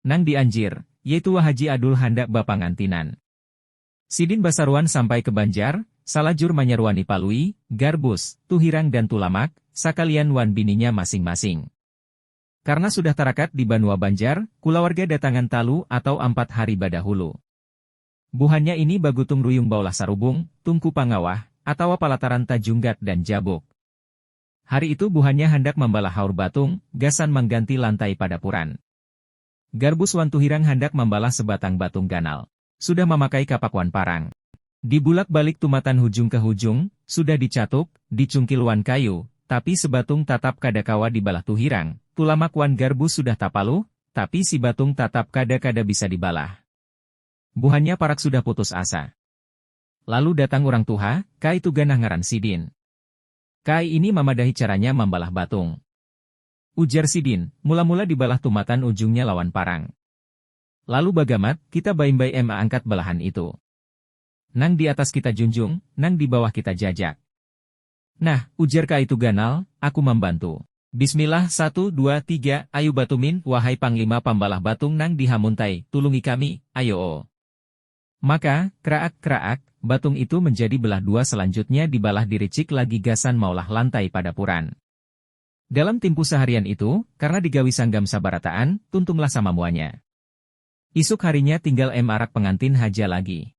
Nang di Anjir, Ye Tua Haji Adul handak bapangantinan. Sidin basaruan sampai ke Banjar, salajur manyaruani Palui, Garbus, Tuhirang dan Tulamak, sakalian wan bininya masing-masing. Karna sudah tarakat di banua Banjar, kulawarga datangan talu atau ampat hari badahulu. Buhannya ini bagutung ruyung baulah sarubung, tungku pangawah, atawa palataran tajunggat dan jabuk. Hari itu buhannya handak mambalah haur batung, gasan mangganti lantai padapuran. Garbus wan Tuhirang handak mambalah sebatang batung ganal. Sudah mamakai kapak wan parang. Dibulak-balik tumatan hujung ka hujung, sudah dicatuk, dicungkil wan kayu, tapi sebatung tatap kada kawa dibalah Tuhirang, Tulamak wan Garbus sudah tapaluh, tapi si batung tatap kada kada bisa dibalah. Buhannya parak sudah putus asa. Lalu datang urang tuha, Kai Tuganah ngaran sidin. Kai ini mamadahi caranya mambalah batung. Ujar sidin, mula-mula dibalah tumatan ujungnya lawan parang. Lalu bagamat, kita baimbai maangkat belahan itu. Nang di atas kita junjung, nang di bawah kita jajak. Nah, ujar ka itu ganal, aku mambantu. Bismillah satu dua tiga, ayu batumin, wahai panglima pambalah batung nang di hamuntai, tulungi kami, ayoo. Maka, kraak kraak, batung itu menjadi belah dua selanjutnya dibalah diricik lagi gasan maulah lantai padapuran. Dalam timpuh saharian itu, karna digawi sanggam sabarataan, tuntumlah samamuanya. Isuk harinya tinggal MRak pengantin haja lagi.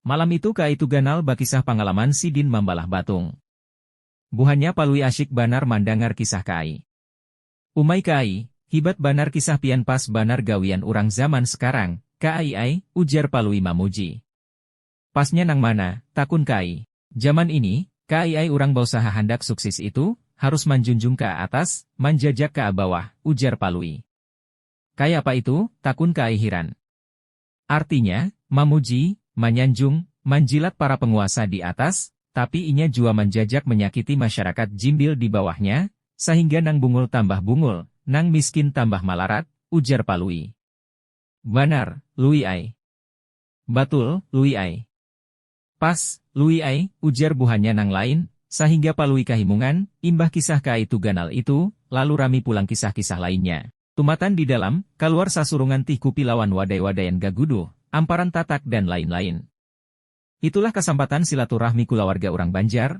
Malam itu kaitu ganal bakisah pangalaman sidin mambalah batung. Buhannya Palui asyik banar mandangar kisah kaai. Umai kaai, hibat banar kisah pian pas banar gawian urang zaman sekarang, kaai ai, ujar Palui mamuji. Pasnya nang mana? takun Kai. Jaman ini, Kai ai urang bausaha handak suksis itu harus manjunjung ka atas, manjajak ka bawah, ujar Palui. Kayapa itu? takun Kai hiran. Artinya, mamuji, manyanjung, manjilat para penguasa di atas, tapi inya jua manjajak menyakiti masyarakat jimbil di bawahnya, sahingga nang bungul tambah bungul, nang miskin tambah malarat, ujar Palui. Banar, Lui ai. Batul, Lui ai. Pas, Lui ai, ujar buhannya nang lain, sahingga Palui kahimungan, imbah kisah ka itu ganal itu, lalu rami pulang kisah-kisah lainnya. Tumatan di dalam, kaluar sasurungan tih kupi lawan wadai-wadaian gaguduh, amparan tatak dan lain-lain. Itulah kasampatan silaturahmi kulawarga urang Banjar,